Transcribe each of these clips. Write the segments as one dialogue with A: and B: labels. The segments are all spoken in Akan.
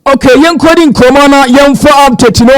A: ok yɛnkɔdi nkɔmmɔ na yɛmfa update no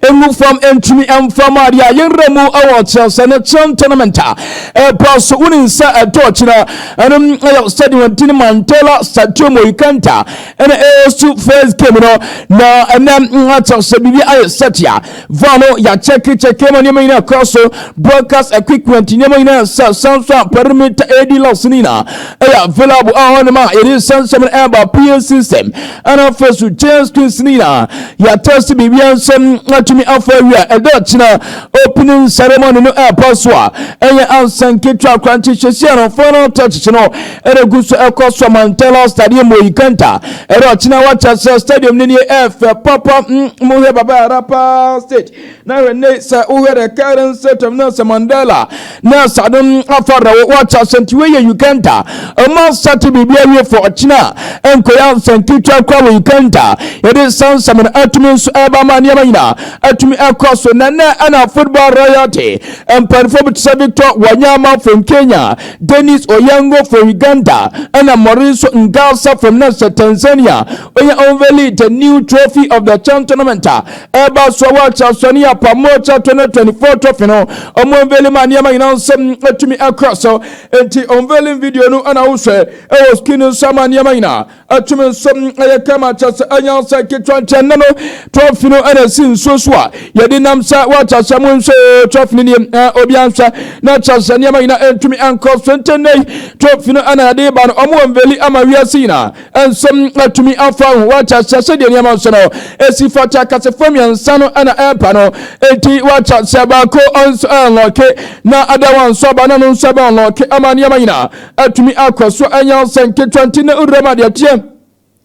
A: ɛngu fam ɛntumi ɛmfa mu adeɛ a yɛnwerɛ mu ɛwɔ kyerɛsɛ no kyerɛ tournament a ɛba so wonim sɛ ɛdɔɔkyena ɛnom ɛyɛ sɛde wɔdi no mandela stadium oikanta ɛna ɛsu first game no na ɛnɛ akyerɛ sɛ biribi ayɛ sɛtea Van no yɛakyɛke kyɛke ma nneɛma nyinaa kɔ so broadcast equipment nneɛma nyinaa sɛ san nso a perimeter AD locks no nyinaa ɛyɛ available a hɔ nom a yɛde nsɛnsɛm no ɛba PA system ɛna afei so giant screens no nyinaa yɛatɛse biribiara nsɛm atumi afa awie a ɛda kyena opening ceremony no ɛɛpa so a ɛyɛ ansa nketewa koraa nti hyɛsi a no final touches no ɛna ɛgu so ɛkɔ Somantela Stadium wɔ Ikanta ɛna ɔkyena wakyɛ sɛ stadium no ni ɛfɛ papa mm, mo hwɛ baba ara paa state na hwɛ ne sɛ wohwɛ the current state of Nelson Mandela na sade mm, afa na wakyɛ sɛ nti wɔyɛ Ikanta ɔma sate biribi awie fo ɔkyena ɛnkɔyɛ nsɛnketewa kora wɔ Ikanta yɛde sansɛm no atumi nso ɛba ma nneɛma nyinaa atumi ɛkɔ so na nɛ ɛna football royalty mpanimfoɔ bi te sɛ Victor Wanyama from Kenya Denis Onyango for Uganda ɛna Moriso Ngalsa from na hyɛ Tanzania ɔyɛ unveiled the new trophy of the CHAN tournament a ɛreba so wɔ Chasonia a Pamocha 2024 trophy no ɔmo unveil ma nneɛma nyinaa nsɛm atumi akɔ so nti unveiling video no ɛna wohwɛ ɛwɔ screen no so ama nneɛma nyinaa atumi nso ɛyɛ kama akyɛ sɛ ɛnyɛ sɛ ketewa nti ɛnɛ no trɔfi no ɛna ɛsi nsuo so a yɛde nam sɛ wɔakyɛ sɛ mo nso trɔfi no nie obi anhwɛ na kyɛ sɛ nneɛma nyina ɛntumi ankɔ so nti nnɛ yi trɔfi no ɛna yɛde ba no ɔmo wɔ mveli ama wiase nyina ɛnso atumi afa ho wɔakyɛ sɛ sɛdeɛ nneɛma nso no ɛsi fata akasefoɔ mmiɛnsa no ɛna ɛmpa no nti wɔakyɛ sɛ baako ɔnso ɛnlɔke na adawa nso aba na no nso ɛbɛnlɔke ama nneɛma nyina atumi akɔ so anya ɔsɛ nketewa nti na wuram ade ɛteɛ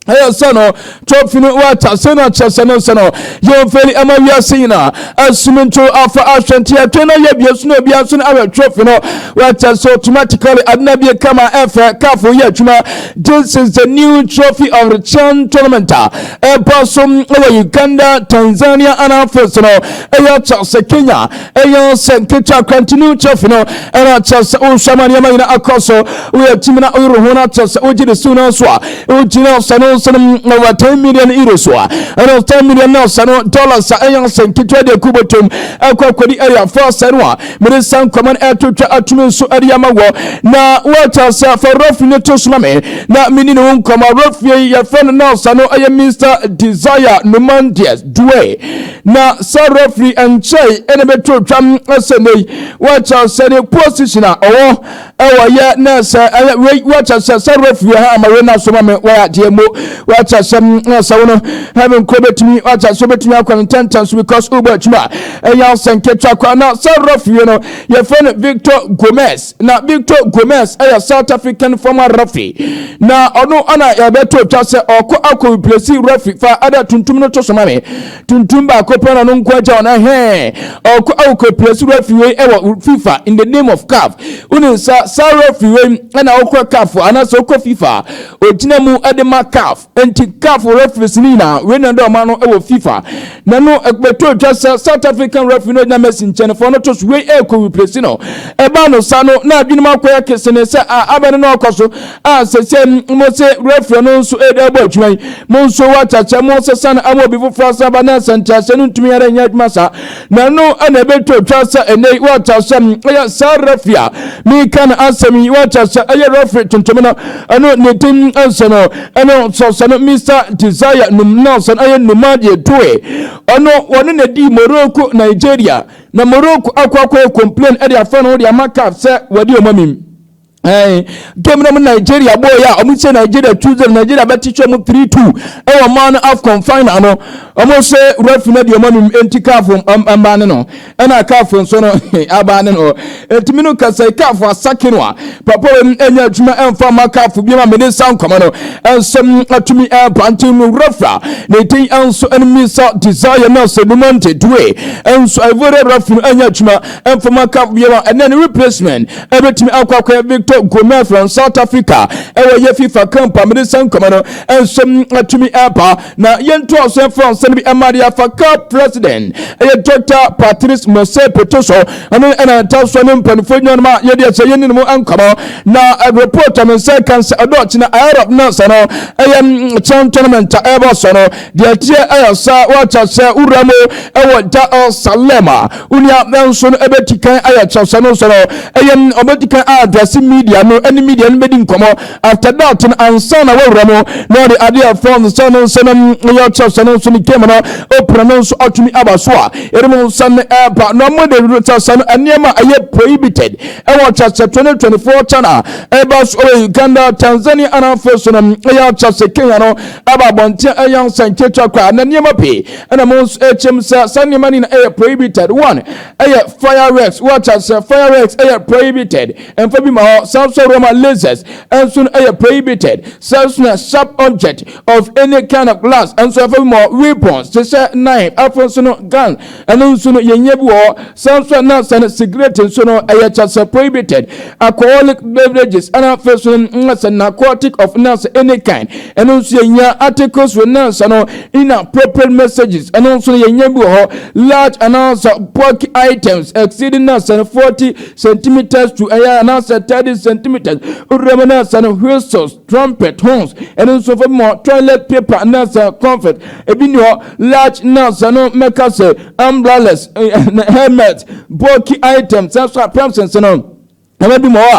A: ɛyɛ sɛ no tɔfi no wɔata sɛ no akyerɛ sɛ no sɛ no yɛmfɛli ɛma wiase nyinaa asumi nto afa ahwɛ nti ɛtwe no yɛ bie so na obia nso no awɛ tɔfi no wɔata sɛ automatically adena bie kama ɛfɛ kafo yɛ adwuma this is the new trophy of the chan tournament a ɛbɔ so wɔ uganda tanzania anafo so no ɛyɛ kyɛ sɛ kenya ɛyɛ sɛ nketewa kwantini kyɛfi no ɛna kyɛ sɛ wohwɛ ma nneɛma nyina akɔ so woyɛ timi na woyere ho no akyɛ sɛ wogye de siw no so a wogyina sɛ no nso no wɔ 10 million euro so a ɛno 10 million na sɛ no dollars a ɛyɛ sɛ nketewa de aku bɔtom ɛkɔ kɔdi ɛyɛ afa sɛ no a mede sa nkɔma no ɛtotwa atumi nso ɛde ama wɔ na woakyɛ sɛ fa rɔfie no to soma me na meni ne wo nkɔma rɔfie yɛfrɛ no na sɛ no ɛyɛ Mr. Desire Numandias Due Na sɛ referee nkyɛe na bɛtoo twam sɛ nɛ yi wɔkyɛ sɛ ne position a ɔwɔ ɛwɔ yɛ na sɛ ɛyɛ wei wɔkyɛ sɛ sɛ referee ha ama wei na so ma me wɔyɛ adeɛ mo wɔkyɛ sɛ sɛ wo no heaven kɔ bɛtumi wɔkyɛ sɛ wobɛtumi akɔ no ntɛntɛn so because wobɔ atwuma ɛyɛ sɛ nketewa kɔ na sɛ referee no yɛfrɛ no Victor Gomez na Victor Gomes yɛ South African former referee na ɔno ana yɛbɛto twa sɛ ɔkɔ akɔ replace referee fa ɛdɛ tuntum no to so ma me tuntum baako pɛ na ɔno nko agya ɔno ɛhɛn ɔkɔ akɔ replace referee wei ɛwɔ FIFA in the name of CAF wonim sa saa referee wei ɛna ɔkɔ CAF anaasɛ ɔkɔ FIFA ogyina mu ɛde ma CAF Enti CAF referees no nyinaa wei na ɛde ɔma no wɔ FIFA. Na no ɛbɛtɔ atwa sɛ South African referee no gyina Messi nkyɛn fɔ no to so wei ɛrekɔ replace no. Ɛbaa no saa no na adwenem akɔyɛ kesene sɛ a abɛn no ɔkɔ so a sɛsɛ mo se referee no nso ɛde ɛbɔ adwuma yi mo nso wɔakyakyɛ mo sɛ san ama obi foforɔ asan ba na sɛ nteaseɛ no ntumi ara nyɛ adwuma saa Na ɛno na ɛbɛtɔ twa sɛ ɛnɛ yi wɔakyɛ sɛ ɛyɛ saa refi a meka no asɛm yi wɔakyɛ sɛ ɛyɛ refi tuntum no ɛno ne din nso no ɛno nso sɛ no Mr Desire Num na sɛ no ɛyɛ Numa deɛ toe ɔno wɔne na di Morocco Nigeria na Morocco akɔ akɔ complain ɛde afɛ no de ama CAF sɛ wɔde ɔma mi ɛn game na mu nigeria bɔɔ yɛ a wɔn sɛ nigeria two zero nigeria bɛ kyekyɛ mu three two ɛwɔ mmaa no afcon final no wɔn sɛ refi na deɛ wɔn anum nti kaafo mmaa ne no ɛna kaafo nso no abaa ne no ɛtumi no kasa kaafo asake no a papa wɔn ɛnyɛ adwuma ɛnfa ma kaafo bi ma mene sa nkɔmɔ no ɛnsɛm atumi ɛba nti no refi a ne din ɛnso ɛnum ne sa desire na sɛ numa nte due ɛnso ɛvore refi no ɛnyɛ adwuma ɛnfa ma kaafo bi ma ɛnɛ ne replacement ɛbɛtumi akɔ akɔyɛ victor gomez from south africa ɛwɔ yɛ fifa camp a mede sɛ nkɔmɛ no nso atumi ɛba na yɛntoa so ɛfa nsɛm no bi ɛma de afa cap president ɛyɛ dr patrice mose peto so ɛno ɛna ɛta so ne mpanimfoɔ nyinaa ma yɛde ɛsɛ yɛne no mu nkɔmɔ na report a me nsa ɛka sɛ ɛdɔɔkye na arab na sɛ no ɛyɛ chan tournament a ɛbɔ so no Deɛ ɛteɛ ɛyɛ sɛ woakyɛ sɛ wowura mu ɛwɔ Jerusalem a, wo nua nso no ɛbɛti kan ayɛ kyerɛsɛ no so no ɛyɛ ɔbɛti kan aadrɛse media no ɛne media no bɛdi nkɔmmɔ after that no ansa na woawura mu na ɔde adeɛ fɔn sɛ no nso no ɛyɛ kyerɛsɛ no nso no game no opena no nso atumi aba so a ɛdum nsa no ɛba na mo de kyerɛsɛ no nneɛma ɛyɛ prohibited ɛwɔ kyerɛsɛ 2024 channel ɛba so ɛwɔ Uganda Tanzania anaa afei so no ɛyɛ kyerɛsɛ Kenya no ɛba abɔnten ɛyɛ nsɛnkyerɛkyerɛ koraa na nneɛma pii ɛna mo nso ɛkyɛm sɛ saa nneɛma no na ɛyɛ prohibited one ɛyɛ fireworks wɔakyɛ sɛ fireworks ɛyɛ prohibited ɛmfa bi ma hɔ saa nso ɛwɔ ma lasers ɛnso no ɛyɛ prohibited saa nso na sharp object of any kind of glass ɛnso ɛmfa bi ma hɔ weapons te sɛ knife afei nso no gun Ɛno nso no, yɛn nya bi wɔ hɔ. Saa nso a na sɛ no sigaret nso no, ɛyɛ kyɛ sɛ prohibited, alcoholic beverages, ɛna afei nso no na sɛ narcotic of na sɛ any kind. Ɛno nso yɛn nya articles wɔ na sɛ no inappropriate messages. Ɛno nso no yɛn nya bi wɔ hɔ. Large anaasɛ bulky items exceeding na sɛ no 40 centimeters to ɛyɛ anaasɛ 30 centimeters. Wura mu na sɛ no whistles. trumpet, horns, ɛno nso fa bi ma hɔ, toilet paper, anaasɛ comfort, ebi ni hɔ, large nuts, ɛno mɛka sɛ umbrellas, helmet, bulky items, saa nso apramsense no ɛma bi ma hɔ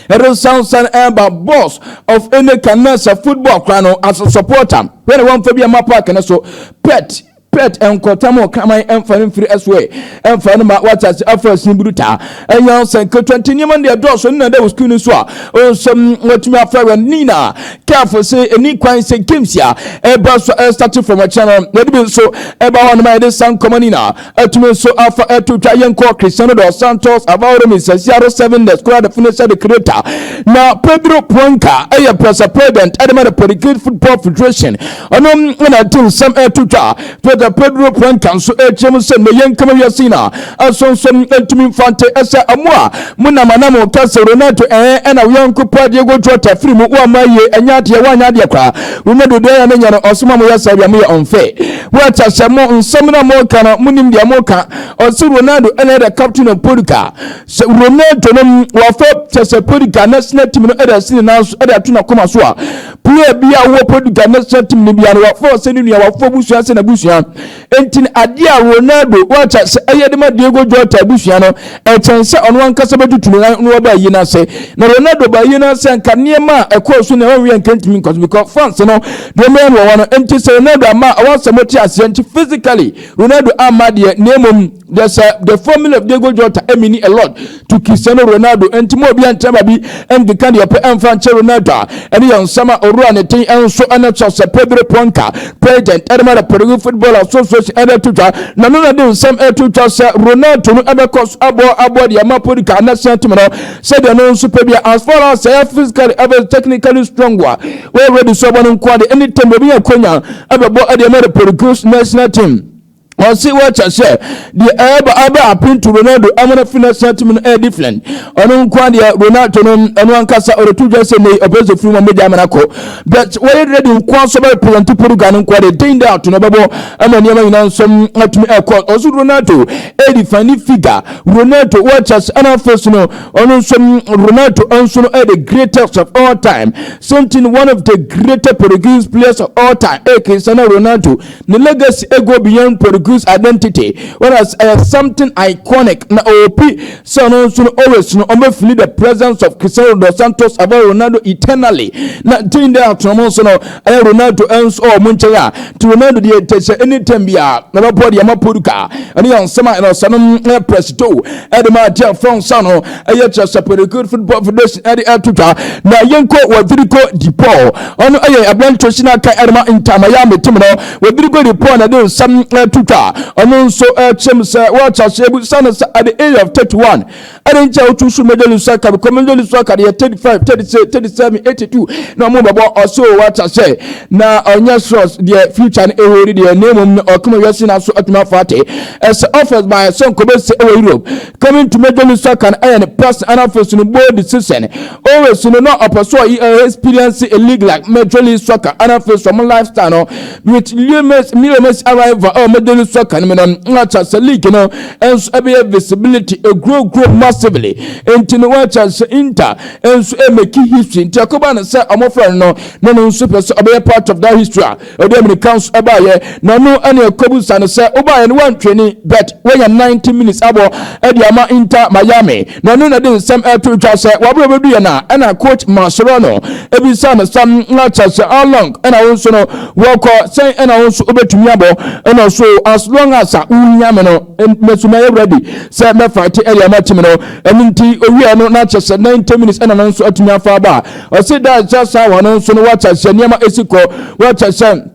A: a ɛde sansan ɛba boss of any kind, anaasɛ football koraa no as a supporter, hwɛ na wɔmfa bi ɛma park no so, pet, pet nkɔtam ɔkraman ɛmfa no mfiri ɛso ɛ ɛmfa no ma wate ase afa asin buru taa ɛnyɛ ansa nketewa nti nneɛma no deɛ dɔɔso no na ɛda wɔ sukuu no so a ɔnsɛm watumi afa awura no ne nyinaa kɛfo sɛ ɛni kwan sɛ games a ɛba so ɛstate fam akyerɛ no yɛde bi nso ɛba hɔ nom a yɛde sa nkɔma no nyinaa atumi nso afa ɛto twa yɛnkɔ Cristiano dos Santos Avaoro Misasiaro Seven the Squad Finisher the Creator na Pedro Puanka ɛyɛ press president ɛde ma the Portuguese Football Federation Ɔno na ɛde nsɛm ɛto dwa. Fada Pedro Puenca nso ɛrekyerɛ mu sɛ, na yɛn kama wiase nyina ɛso nso ɛntumi mfa nte ɛsɛ mo a mo nam ana mo ka sɛ Ronaldo ɛɛ ɛna wo yɔnko paa Diego Jota firi mu woamma ayie ɛnyɛ adeɛ woanyɛ adeɛ koraa Ronaldo deɛ ɛyɛ ne nyɛ no ɔse mo a moyɛ saa deɛ moyɛ unfair What a sɛ mo nsɛm na mo ka no mo nim deɛ mo ka ɔse Ronaldo ɛna ɛda captain of Portugal sɛ Ronaldo no wafa kyɛ sɛ Portugal national team no ɛda si ne nan so ɛda to na koma so a Pia bi a ɔwɔ Portugal ne Santm no bia no wafa ɔsɛ ne nua wafa abusua sɛ n'abusua. Enti no adeɛ a Ronaldo wakyɛ sɛ ɛyɛ de ma Diego Jota abusua no ɛkyɛn sɛ ɔno ankasa bɛtutu no nan na waba ayie no ase. Na Ronaldo ba ayie no ase a nka nneɛma a ɛkɔɔ so na ɛwɔ wia nka ntumi nkɔ so because fans no deɛ ɔmɛyɛ no wɔwɔ no nti sɛ Ronaldo amma a wɔn asɛm wote aseɛ nti physically Ronaldo amma deɛ na mmom The, uh, the formula of Diego Jota e meaning a lot to Cristiano Ronaldo. Enti mo obi ankyerɛ ma bi ɛnde ka deɛ ɔpɛ ɛnfa nkyɛ Ronaldo a ɛne yɛ nsɛm a owura ne ten ɛnso ɛne sɔ sɛ Pedro Ponca president ɛdema na Peru football association ɛde to twa na no na de nsɛm ɛto twa sɛ Ronaldo no ɛbɛkɔ so aboɔ aboɔ deɛ ma Podka anasea tim no sɛdeɛ no nso pɛ bia as far as ɛyɛ physically ɛbɛ technically strong a wɔyɛ ready so ɛbɔ no nko ade ɛne tɛm obi yɛ konya ɛbɛbɔ ɛdeɛ ma the Peru's national team Ɔsi wɔkyɛ sɛ deɛ ɛɛba aba apintu Ronaldo amona fi national team no ɛyɛ different. Ɔno nkoa deɛ Ronaldo no ɛno ankasa ɔretu dwa sɛ nei ɔpɛ sɛ firi wɔn mogya amana kɔ. But wɔyɛ ready nkoa nso bɛ represent Portugal no nkoa deɛ day in day out no bɛbɔ ɛma nneɛma nyinaa nso atumi ɛkɔ. Ɔso Ronaldo ɛyɛ define figure. Ronaldo wɔkyɛ sɛ ɛna afei so no ɔno nso Ronaldo nso no ɛyɛ the greatest of all time. Same thing one of the greatest Portuguese players of all time ɛkesa na Ronaldo Ne legacy go beyond Portuguese identity whereas ɛyɛ something iconic na ɔrepi sɛ ɔno nso no always no ɔbɛfili the presence of Cristiano Ronaldo Santos abɔ Ronaldo eternally na din dɛ ato ɔmo nso no ɛyɛ Ronaldo nso ɔwɔ ɔmo nkyɛn a ti Ronaldo deɛ ɛtɛ sɛ anytime bi a na bɛbɔ deɛ ama Portugal ɛne yɛn nsɛm a ɛnɔ sɛ no ɛyɛ prɛsito ɛde ma adeɛ fɔn sa no ɛyɛ kyerɛ sɛ pɛrɛkiri football federation ɛde ɛto dwa na yɛnkɔ wɔdiriko dipɔɔ ɔno ɛyɛ aberante si n'aka ɛrema ntaamaya metem no wɔdiriko dipɔɔ na ɛde nsɛm ɛto dwa ɔno nso ɛkyɛm sɛ wɔakyɛ aseɛ bu sane sɛ at the age of 31 ɛde nkyɛ wotu so major league soccer because major league soccer deɛ 35 36 37 82 na ɔmo bɛbɔ ɔso wɔakyɛ sɛ na ɔnyɛ sros deɛ future no ɛwɔ di deɛ na mmom no ɔkoma wiase na so atumi afa ate ɛsɛ offers by sɛ nkɔbɛsi ɛwɔ europe Coming to Major League Soccer no yɛ ne past anafosu no bold decision. Always no na ɔpɛ sɛ ɔyɛ ɔyɛ experience a league like Major League Soccer anafosu ɔmo lifestyle no with Leo Messi Leo Messi arrival ɛwɔ Major League Soccer no mu no na kyerɛ sɛ league no nso ɛbɛyɛ visibility ɛgrow grow massively nti no wɔkyerɛ sɛ Inter nso ɛmɛki history nti ɛkɔba no sɛ ɔmo frɛ no no no no nso pɛ sɛ ɔbɛyɛ part of that history a Ɔde ammirika nso baeɛ, na ɔno na ɛkɔbisa no sɛ, Wobaeɛ no woantwe ne bet? Woanya 90 minutes abɔ de ama Inter Miami, na ɔno na ɛde nsɛm reto dwa sɛ wabrɛ ɔbɛduiɛ no a, ɛna coach Mascherano bisa no sɛ, Na kyerɛ sɛ how long na wo nso no woakɔ? Sɛn na wo nso wobɛtumi abɔ? Ɛna ɔse, Oh, as long as a wohia me no, me nso mɛyɛ ready sɛ mɛfighte de ama team no. Ɛno nti ɔwieɛ no, na kyerɛ sɛ 90 minutes na no nso atumi afa aba. Ɔsi dan sɛ saa wɔn no nso no wɔkyɛ sɛ nneɛma esi kɔ wɔkyɛ sɛ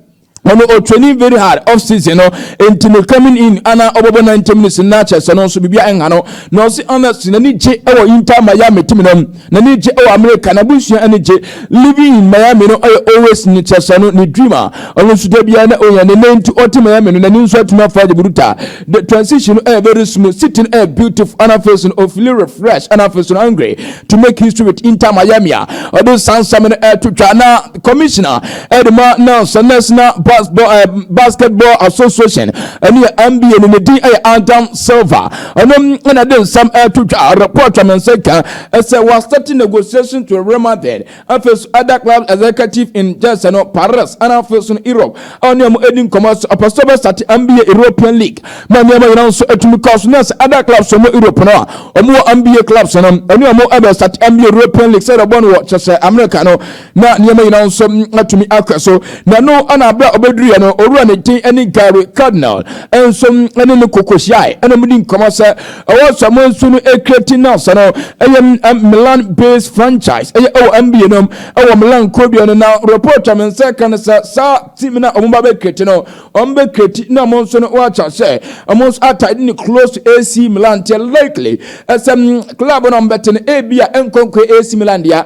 A: ɔno o training very hard off season no nti no coming in ana ɔbɛbɔ 90 minutes na kyɛ sɛ no nso biribi ɛnha no na ɔsi honest n'ani gye ɛwɔ Inter Miami team no n'ani gye ɛwɔ America na busua ani gye living in Miami no ɔyɛ always ne kyɛ sɛ no ne dream a ɔno nso da biara na ɔnya ne nan nti ɔte Miami no n'ani nso atumi afa de buruta The transition no ɛyɛ very smooth, sitting ɛyɛ beautiful, ɛna afei so no o feeling refreshed, ɛna afei so no hungry to make history with Inter Miami a ɔde nsa nsɛm no ɛto twa na commissioner ɛde ma NABS, National Basketball, eh, Basketball Association, ɛne yɛ NBA no ne din ɛyɛ Adam Silver, ɔno ɛna de nsɛm ɛto twa report a me nsa ka ɛsɛ wɔasɛte negotiation to rema then Afei nso, Ada Club Executive in Jersey no, Paris, ɛna afei nso no Europe a ɔne wɔn adi nkɔmmɔ nso, ɔpɛ sɛ ɔbɛstate NBA, European League, ma nneɛma nyinaa nso atumi kɔ so. Na sɛ Ada Clubs wɔ Europe no a, wɔn wɔ NBA Clubs no, ɛne wɔn ɛbɛstate NBA, European League, sɛdeɛ ɔbɔ no wɔ kyerɛ sɛ America no, na nneɛma nyinaa nso atumi akɔ so. Na ɛno na berɛ a ɔbɛduruiɛ no, owura ne din ɛne Gary Cardinal nso ɛne no kɔkɔhyiae, ɛna wɔdi nkɔmmɔ sɛ ɛwɔ Samoa nsu no Kreti no asa no ɛyɛ Milan based franchise ɛyɛ ɛwɔ NBA nom ɛwɔ Milan kurodua no na report a me nsa ka no sɛ saa team na wɔn ba bɛ Kreti no wɔn bɛ Kreti na wɔn nso no wɔakyɛ sɛ wɔn nso ata ne close to AC Milan te likely ɛsɛ club no wɔn bɛte no ebi a nkɔnkɔ AC Milan deɛ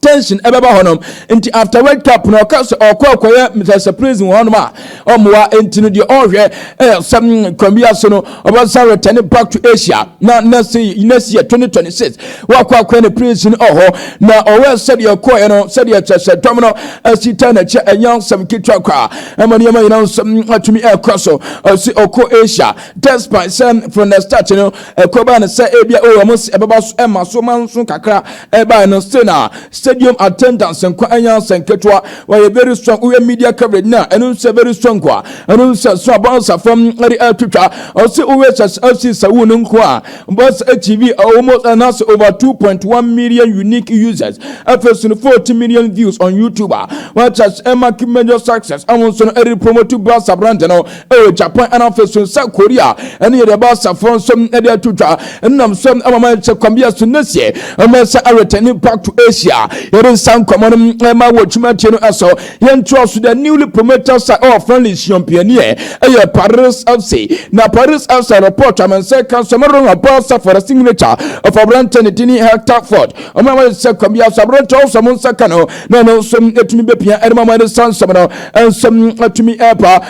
A: tension ɛbɛba hɔ nom nti after world cup no ɔka sɛ ɔkɔ akɔyɛ mr surprise wɔ hɔnom a ɔmmoa nti no deɛ ɔhwɛ ɛyɛ sɛ mm, kwan bi ase no ɔbɛsan return back to asia na next next year 2026 wakɔ akɔyɛ ne prison ɔhɔ na ɔwɔ sɛdeɛ ɔkɔɛ no sɛdeɛ kyɛ sɛ dɔm no asi ta n'akyi ɛnyɛ nsɛm ketewa koraa ɛma nneɛma nyinaa nso mm, atumi ɛkɔ so ɔsi ɔkɔ asia despite sɛ from the start no ɛkɔbaa no sɛ ebia ɔwɔ mo sɛ ɛbɛba so ɛma so ma nso kakra Ɛbae no sɛ na stadium attendance nko ara nyɛ asɛm ketewa. Wɔayɛ very strong. Woyɛ media coverage no a, ɛno nso yɛ very strong a. Ɛno nso sɛ so a Barca fam de atwitwa. Ɔse woyɛ Chelsea FC Saúl no nko a, Barca TV almost ɛna ase over 2.1 million unique users. Afei so no 40 million views on YouTube a. Wɔ Chelsea ɛma keep major success. Ɛho nso no ɛde promote Barca brand no. wɔ Japan ɛna afei so nsa Korea ɛne yɛde ɛba asafo nso ɛde ato dwa ɛnam so ɛma ma ɛkyɛ kwan bi ɛso nɛsiɛ ɛma ɛsɛ awɛtɛni back to Asia yɛde nsa nkɔmɔ no ɛma wɔ twuma tie no ɛso yɛn to aso the newly promoted side ɛwɔ friendly siɔmpianiɛ ɛyɛ Paris FC na Paris FC report amɛnsɛ kan so mɛro na bɔ asafo ɛrɛ signature of aberantɛ ne dini Hector Ford ɔmo na wɔde sɛ kwan bi aso aberantɛ ɔsɔ mo nsa ka no na ɛno nso ɛtumi bɛpia ɛde ma mo ɛde sa nsɛm no ɛnsɛm ɛtumi ɛba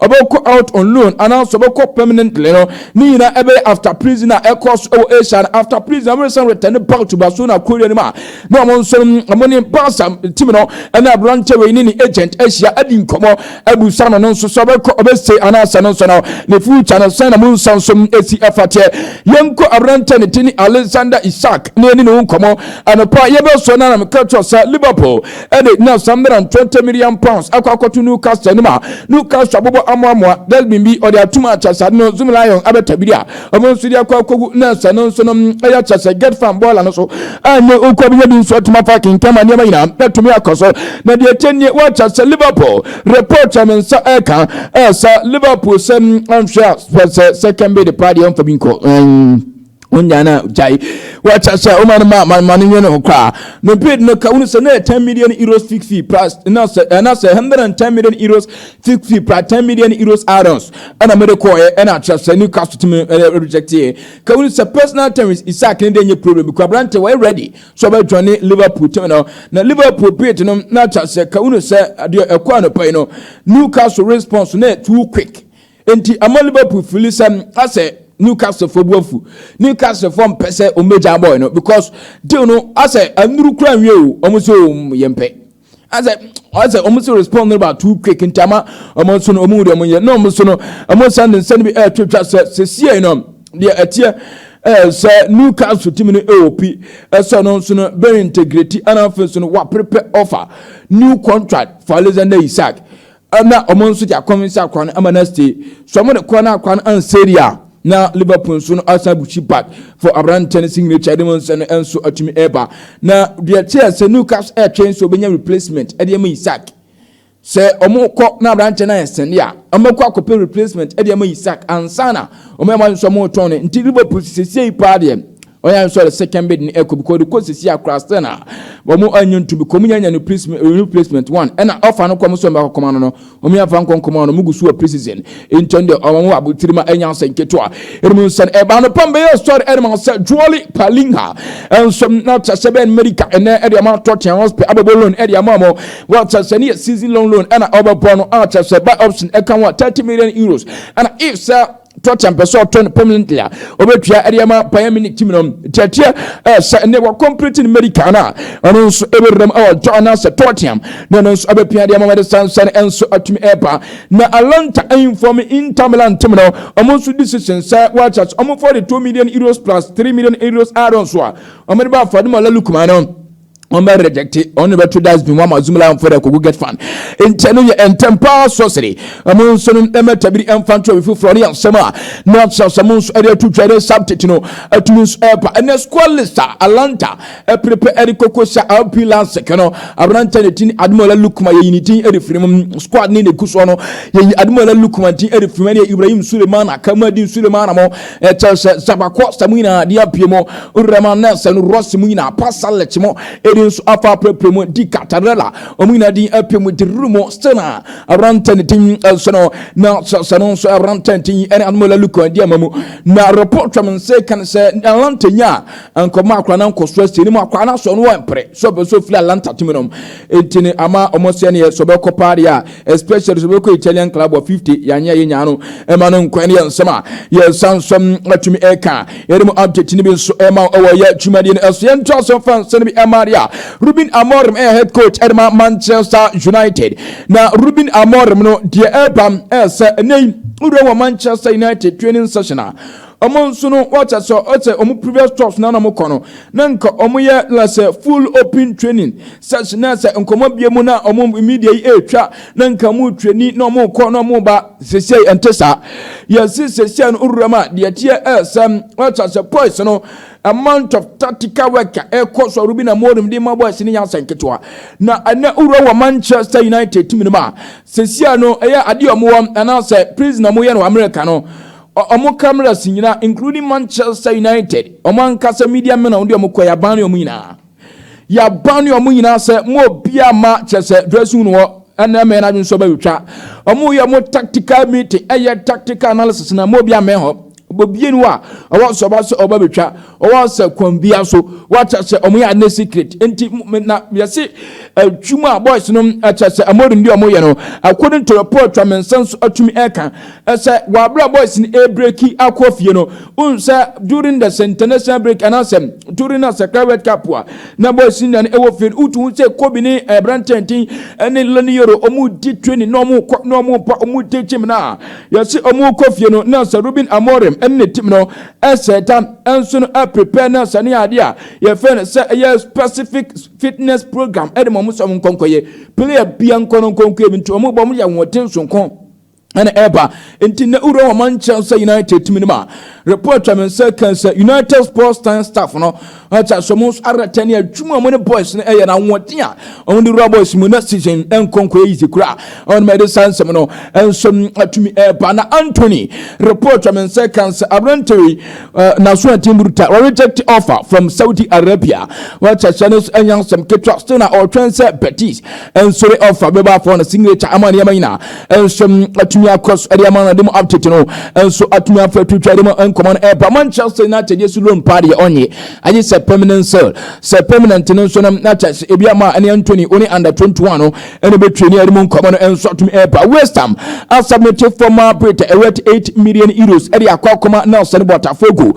A: ɔbɛkɔ out on loan anaasɛ ɔbɛkɔ permanently no ne nyinaa ɛbɛyɛ after prison a ɛkɔ so ɛwɔ Asia no after prison ɔbɛsan return back to Barcelona Korea no mu a na wɔn nso no wɔn ne Barca team no ɛna aberanteɛ wei ne ne agent ahyia adi nkɔmɔ abusa no no nso sɛ ɔbɛkɔ ɔbɛsɛ anaasɛ no nso no ne future no sɛn na mu nsa nso esi ɛfateɛ yɛnkɔ aberanteɛ ne ti ne Alexander Isak ne ɛne ne ho nkɔmɔ anɔpa yɛbɛsɔ no anam kɛtɔ sɛ Liverpool ɛna gyina saa mmara ntɔntɛ million pounds akɔ akɔto Newcastle no ma Newcastle abobɔ amoamoa Delbin bi ɔde atom akyɛsade no Zum Lion abɛta biri a ɔmo nso de akɔ akɔgu na sɛ no nso no ɛyɛ kyɛ sɛ Get Farm bɔɔla no so a nyɛ oku abenya bi nso atom afa akenkan ma nneɛma nyinaa atumi akɔ so na deɛ ɛkyɛ nie wɔakyɛ sɛ Liverpool report a me nsa ɛka ɛsa Liverpool sɛ anhwɛ a sɛ sɛ kɛmbe de paa deɛ ɔmfa bi nkɔ wonya na gyae wɔkyɛ sɛ woma no ma ma no nwene ho koraa no bid no ka wonu sɛ na 10 million euros fix fee plus na sɛ ɛna sɛ 110 million euros fix fee plus 10 million euros add-ons ɛna mede kɔɛ ɛna akyerɛ sɛ ne ka so tumi rejecteɛ ka wonu sɛ personal terms Isaac ne deɛ nyɛ problem kɔ aberante wɔyɛ ready so ɔbɛdwane Liverpool tumi no na Liverpool bid no na akyerɛ sɛ ka wonu sɛ adeɛ ɛkɔ anɔpa yi no Newcastle response na too quick Enti ama Liverpool fili sɛ asɛ Newcastle fo bu afu. Newcastle fo mpɛ sɛ wɔn bɛgya boy no because deal no asɛ anuru kura nwie o wɔn sɛ o yɛn pɛ. Asɛ asɛ wɔn sɛ respond no ba too quick nti ama wɔn nso no wɔn deɛ wɔn yɛ na wɔn nso no wɔn san ne nsɛn bi ɛretwitwa sɛ sɛsie no deɛ ɛteɛ ɛɛ sɛ Newcastle team no ɛwɔ pi ɛsɛ ɔno nso no bɛ integrate anafo nso no waprepɛ offer new contract for Alexander Isak na wɔn nso de akwan nsa akwa no ama no ase so wɔn de kɔ na akwa no anseri a na liverpool nso no asan bushi back for aberantɛ no signature de mu nsa no nso atumi ɛreba na deɛ teɛ sɛ newcastle ɛretwɛn sɛ wɔbɛnya replacement ɛde ama isaac sɛ wɔn kɔ na aberantɛ no ayɛ sɛnde a wɔn akɔ akɔpɛ replacement ɛde ama isaac ansana wɔn ɛma nso wɔn tɔn no nti liverpool sisi yi paa deɛ Onya nso ɔde second bid no ɛkɔ because the court sisi akora still na wɔn anyi nto bi kɔm nyanya no placement renew placement one ɛna ɔfa no kɔm so ɔmo akɔkɔm ano no wɔn yɛn fa nkɔ nkɔm ano ɔmo gu so wɔ precision nti ɔno deɛ ɔmo abotiri ma ɛnya asɛn ketewa ɛnum nsɛn ɛbaa no pam bɛyɛ sɔre ɛnum asɛ juoli palinha ɛnso na kyɛsɛ bɛn america ɛnɛ ɛde ɔmo atɔ kyɛn hospital abɛbɔ loan ɛde ama ɔmo wɔ kyɛsɛ ne yɛ season long loan ɛna ɔbɛbɔ no a kyɛsɛ buy option ɛka ho a thirty million euros ɛna if sɛ tɔkyɛm pɛ sɛ ɔtɔ no permanently a ɔbɛtua ɛde ama paya mini tim no tiatia sɛ ɛnɛ wɔ complete no medical no a ɔno nso ɛbɛwuram ɛwɔ tɔ anaasɛ tɔkyɛm na ɛno nso abɛpia de ama mɛde sansan nso atumi ɛba na alanta inform Inter Milan tim no ɔmo nso decision sɛ wɔakyɛ sɛ ɔmo 42 million euros plus 3 million euros add-on so a ɔmo de ba afa de ma Lukman no wɔn rejecte wɔn na bɛto dustbin wɔn ama zoom line fo dɛ kogu get fan nkyɛn no yɛ ntɛm paa sɔsere ɛmo nso no ɛmɛ tabiri ɛnfa nto ɛbi foforɔ ne yɛ asɛm a na asɛm nso ɛde ato twa ɛde subject no ɛtumi nso ɛɛpa ɛnɛ squad list a alanta ɛperepe ɛde koko sa lp lansɛkɛ no aberantɛ ne tin ademola lukuma yɛyi ne tin ɛde firi mu squad ne ne gu soɔ no yɛyi ademola lukuma tin ɛde firi mu ɛne ibrahim suleiman akamadi suleiman mo ɛkyɛ sɛ sabakɔ sɛ mu nyinaa de apue mu rɛma na sɛ no rɔsi mu nyinaa pasa lɛkyi mu ɛdi nso afa apirapira mu di katarɛla wɔn nyinaa din apue mu di ruru mu still na aberantɛ ne din nso no na sɛ no nso aberantɛ ne din ɛne anomola lukɔ ɛdi ama mu na report twam nse kan sɛ alanta nya nkɔmɔ akora na nkɔso asi anim akora na sɛ ɔno wɔ mpere sɛ ɔpɛ sɛ ofiri alanta tumi nom enti ne ama ɔmo sɛ neɛ sɛ ɔbɛkɔ paa deɛ a especially so bɛkɔ italian club wɔ 50 yɛanyɛ yɛ nyaa no ɛma no nkwan no yɛ nsɛm a yɛsa nsɔm atumi ɛka yɛde mu update no bi nso ɛma ɛwɔ yɛ adwumadeɛ no ɛso yɛnto aso fa nsɛm no bi ɛma adeɛ a Ruben Amorim ɛyɛ head coach ɛde ma Manchester United na Ruben Amorim no deɛ ɛba ɛsɛ ɛnɛ yi wura wɔ Manchester United training session a ɔmo nso no wɔkyɛ sɛ ɔsɛ ɔmo previous clubs na ɔmo kɔ no na nka ɔmo yɛ lasɛ full open training Sɛ so na sɛ nkɔmɔ bie mu na ɔmo media yi ɛretwa na nka ɔmo twani na ɔmo kɔ na ɔmo ba sesei ɛnte saa yɛse sesei no owura mu a deɛ ɛteɛ ɛsɛm wata sɛ boys no amount of tactical work a ɛkɔ so a Ruben Amorim de ma boys no yɛ asɛn ketewa na ɛnɛ owura wɔ Manchester United team no mu a sesei no ɛyɛ adeɛ ɔmo wɔ anaasɛ prison ɔmo yɛ no wɔ America no ɔmo cameras nyina including Manchester United ɔmo ankasa media men a ɔmo de ɔmo kɔ yɛ aban ne ɔmo nyinaa. Yɛaban ne wɔn nyinaa sɛ mo obiara mma kyɛ sɛ dressing room hɔ ɛnna mmɛn adwene so bɛtwa. Wɔyɛ wɔn tactical meeting ɛyɛ tactical analysis na mo obiara mmɛn hɔ. Obiara ni hɔ a ɔwɔ sɛ ɔba sɛ ɔba bɛtwa ɔwɔ sɛ kwan biara so wakyɛ sɛ wɔn yɛ ade secret nti na yɛse adwuma a boys no kyɛ sɛ wɔn de wɔn yɛ no according to report a me nsa so atumi ɛka Sɛ w'abrabɔ ɛsen ɛbreki akɔ fie no, wohu sɛ during the international break anaasɛ during a sakra world cup a na bɔ ɛsen nane ɛwɔ fie no, wotu ho sɛ Kobe ne ɛbrantɛn ten ɛne Lenny Yoro ɔmo di training na ɔmo kɔ na ɔmo pa ɔmo di gym na yɛse ɔmo kɔ fie no na sɛ Ruben Amorim ɛne ne team no ɛsɛ ta ɛnso no ɛprepare na sɛ ne adeɛ a yɛfɛ no sɛ ɛyɛ specific fitness program ɛde ma ɔmo sɛ ɔmo nkɔnkɔyɛ player bia nkɔ no nkɔnkɔyɛ bi nti ɔmo bɔ ɔmo yɛ ahoɔden sonko ɛna ɛreba nti na wura wɔn nkyɛn sɛ united tumi no ma report twa me nsa kan sɛ united sports time staff no ɔkyɛ sɛ wɔn nso aratɛ ne adwuma wɔn ne boys no ɛyɛ na ahoɔden a wɔn de wura boys mu na season nkɔnkɔ yɛ yizi kura wɔn ma ɛde saa nsɛm no nso atumi ɛreba na anthony report twa me nsa kan sɛ aberante wei naso atim buruta wɔreject offer from saudi arabia wɔkyɛ sɛ no nso ɛnyɛ nsɛm ketewa still na ɔtwɛn sɛ betis ɛnsore offer bɛba afɔ no signature ama nneɛma nyinaa nso atumi akɔ so de ama no de mu update no nso atumi afɛ twitwa de mu nkɔmɔ no ɛba manchester united yɛ so loan paa deɛ ɔnye agye sɛ permanent sale sɛ permanent no nso no na kyɛ sɛ ebi ama ɛne antony ɔne under 21 no ɛne bɛtwe ne de mu nkɔmɔ no nso atumi ɛba west ham asubmete former brit ɛwɛt 8 million euros ɛde akɔ akɔma nelson botafogo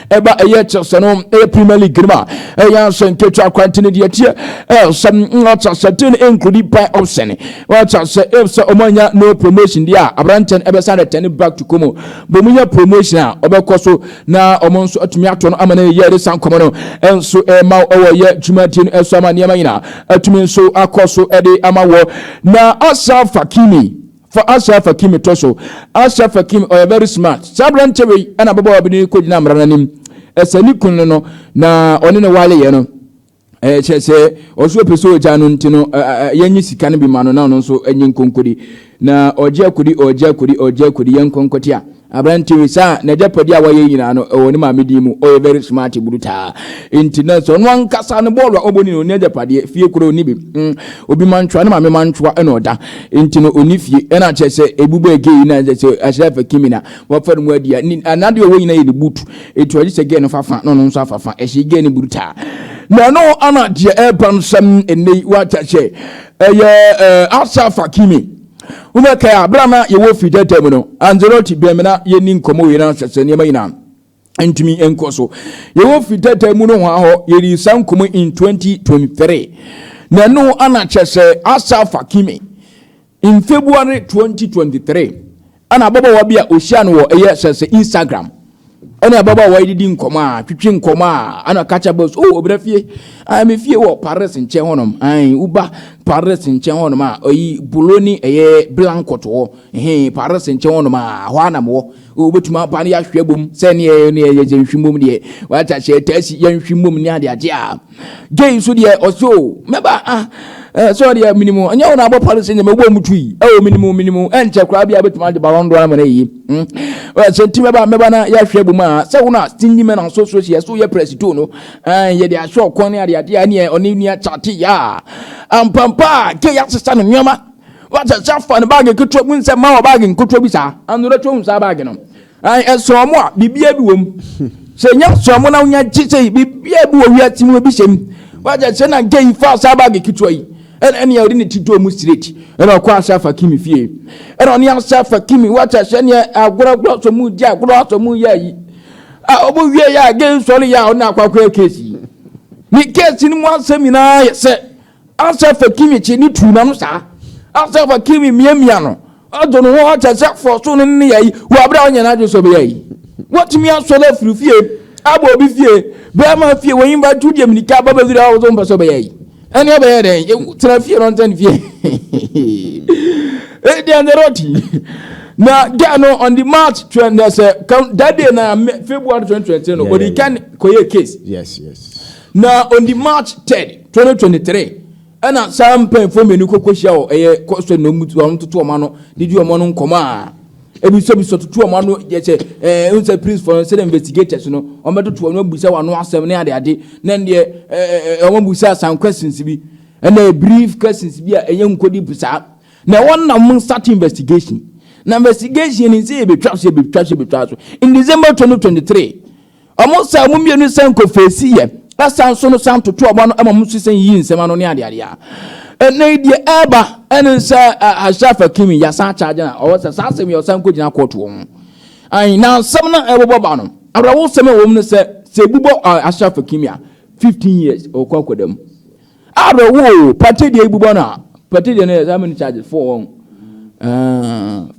A: ɛba ɛyɛ kyɛsɛ no ɛyɛ premier league no ma ɛyɛ asɛ nketewa akwanti no deɛ teɛ ɛsɛ ɔkyɛ sɛ tin nkurudi pan option ɔkyɛ sɛ ɛsɛ ɔmo anya no promotion deɛ a aberantɛ no ɛbɛsa no tɛne back to komo bɔ mu nya promotion a ɔbɛkɔ so na ɔmo nso atumi ato no ama no yɛ ɛde san kɔmɔ no nso ɛma ɔwɔ yɛ dwumadie no ɛso ama nneɛma nyinaa atumi nso akɔ so ɛde ama wɔ na ɔsa fakimi Fa Ashraf Hakim to so. Ashraf Hakim ɔyɛ very smart. Saa aberanteɛ wei ɛna ababaawa bi ne kɔgyina mmara no anim ɛsɛ ne kunu no no na ɔne ne waleeɛ no ɛkyɛ sɛ ɔso ɔpɛ sɛ ɔgya no nti no yɛnye sika no bi ma no na ɔno nso ɛnye nkonkodi na ɔgye akodi ɔgye akodi ɔgye akodi yɛnkɔ nkɔte a Aberante wei saa nagyapade a wayɛ yi nyinaa no ɛwɔ ne maame din mu ɔyɛ very smart brutaa nti na sɛ ɔno ankasa no bɔɔlu a ɔbɔ ni na ɔni agyapadeɛ fie kura ɔni bi mm obi mantwa ne maame mantwa ɛna ɔda nti no ɔni fie ɛna akyɛ sɛ ebu bɛɛ gay yi na ɛsɛ sɛ ahyɛ afɛ kimi na wafa no mu adi a anadeɛ ɔwɔ nyina yɛ ne boot etu agye sɛ gay no fa fa na ɔno nso afa fa ɛhyɛ gay no brutaa na ɛno ana deɛ ɛba nsɛm ɛnɛ yi wakyɛ sɛ ɛyɛ ahyɛ afa kimi Wobɛkae a, bere a na yɛwɔ fi tɛtɛ mu no, Anzerot bɛn me na yɛnni nkɔmmɔ wei na sɛ sɛ nneɛma nyinaa ntumi nkɔ so. Yɛwɔ fi tɛtɛ mu nohoa hɔ, yɛdii saa nkɔmmɔ in 2023. Na ɛno ana kyɛ sɛ Asaf Hakimi in February 2023. Ɛna ababaawa bi a ɔhyia no wɔ ɛyɛ sɛ sɛ Instagram ɛne ababaawa yi didi nkɔmɔ a twitwi nkɔmɔ a ɛna ɔka kyɛ bɔs o ɔbrɛ fie ɛn me fie wɔ Paris nkyɛn hɔnom ɛn woba Paris nkyɛn hɔnom a ɔyi bolo ne ɛyɛ blankɔt wɔ ɛhɛn Paris nkyɛn hɔnom a hɔ a na mewɔ wobɛtumi aba no yɛahwɛ bom sɛ ne ɛyɛ ne ɛyɛ sɛ nhwi mmom deɛ wata hyɛ taasi yɛnhwi mmom ne adeade a Jay nso deɛ ɔse o mɛba ah eh, sɛ ɔdeɛ minimu ɛnyɛ wo na abɔ palo sɛ nyɛ mɛbɔ mu tui ɛwɔ oh, minimu minimu ɛnkyɛ koraa bi a bɛtumi agye balɔn doɔ ama no ayi hmm? sɛ nti mɛba mɛba na yɛahwɛ bu mu a sɛ wo no a stingy man aso so si ɛso yɛ prɛsito no eh, yɛde ahwɛ ɔkɔn ne adeade a neɛ ɔne nua kyate yɛ a ampampa a gye yɛasesa no nneɛma wɔsɛ sɛ afa no baage ketewa mu nsɛ ma wɔ baage nketewa bi saa anora twɛ hu saa baage no Ae, ɛsoɔ mo a, biribiara bi wɔm. Sɛ ɛnyɛ ɛsoɔ mo na wonya gye sɛ biribiara bi wɔ wiase mu, ebi hyɛm. Wagya sɛ na gay faa saa baage ketewa yi, ɛna ɛnea ɔde ne ti dɔɔ mu straight, ɛna ɔkɔ asa afa Kimi fie. Ɛna ɔne asa afa Kimi, wagya sɛ ɛnea agorɔ agorɔ asɔ mu di agorɔ asɔ mu yɛ ayi. A ɔmo wie yɛ a gay sɔre yɛ a ɔne akɔ akɔyɛ case yi. Ne case no mu asɛm nyinaa yɛ sɛ Asɛ fa Kimi kye ne tu na no saa? Asɛ fa Kimi miamia no ato ne ho akyɛ sɛ fɔ so ne ne yɛyi wɔ abere a ɔnyɛ n'adwene sɛ ɔbɛyɛ ayi? Watumi asɔ no afiri fie abɔ obi fie bɛrima fie wɔyi mba tu deɛ minika aba bɛfiri a ɔwɔ mpɛ sɛ ɔbɛyɛ ayi? Ɛne ɔbɛyɛ dɛn? Tena fie no ɔntɛn fie. Ɛdeɛ ne rɔti. Na gya no on the March twɛn na sɛ that day na February 2023 no ɔdi kan kɔyɛ case. Yes yes.
B: Na on the
A: March 3rd. Twenty twenty three ɛna saa mpanyinfoɔ mmienu kɔ kɔhyia wɔ ɛyɛ kɔsɛ na wɔn wɔn toto wɔn ano de di wɔn ano nkɔmɔ a ebisabisa tutu wɔn ano yɛ sɛ ɛɛ n sɛ police fɔ no sɛ investigators no wɔn bɛtoto wɔn abisa wɔn ano asɛm ne adeade na deɛ ɛɛ wɔn abisa some questions bi ɛna brief questions bi a ɛyɛ nkodi bisaa na wɔn na wɔn start investigation na investigation ni sɛ ebetwa so ebetwa so ebetwa so in december twenty twenty three Wɔn saa wɔn mmienu nsa nkɔ feesi yɛ ɛsan nso no san toto wɔn ano ma wɔn nso san yiyi nsɛm ano ne adeade a ɛnna yi deɛ ɛreba ɛne sɛ Ashraf Hakimi yɛsan akyagye na ɔwɔ sɛ saa asɛm yɛ ɔsan kɔgyina kɔɔto wɔn ho ayi na nsɛm no ɛbobɔ ba no awerɛhosɛm ɛwɔ mu no sɛ sɛ ebubɔ Ashraf Hakimi a 15 years ɔkɔ akɔda mu awerɛhoo pate deɛ ebubɔ no a pate deɛ no yɛ saa many charges four wɔn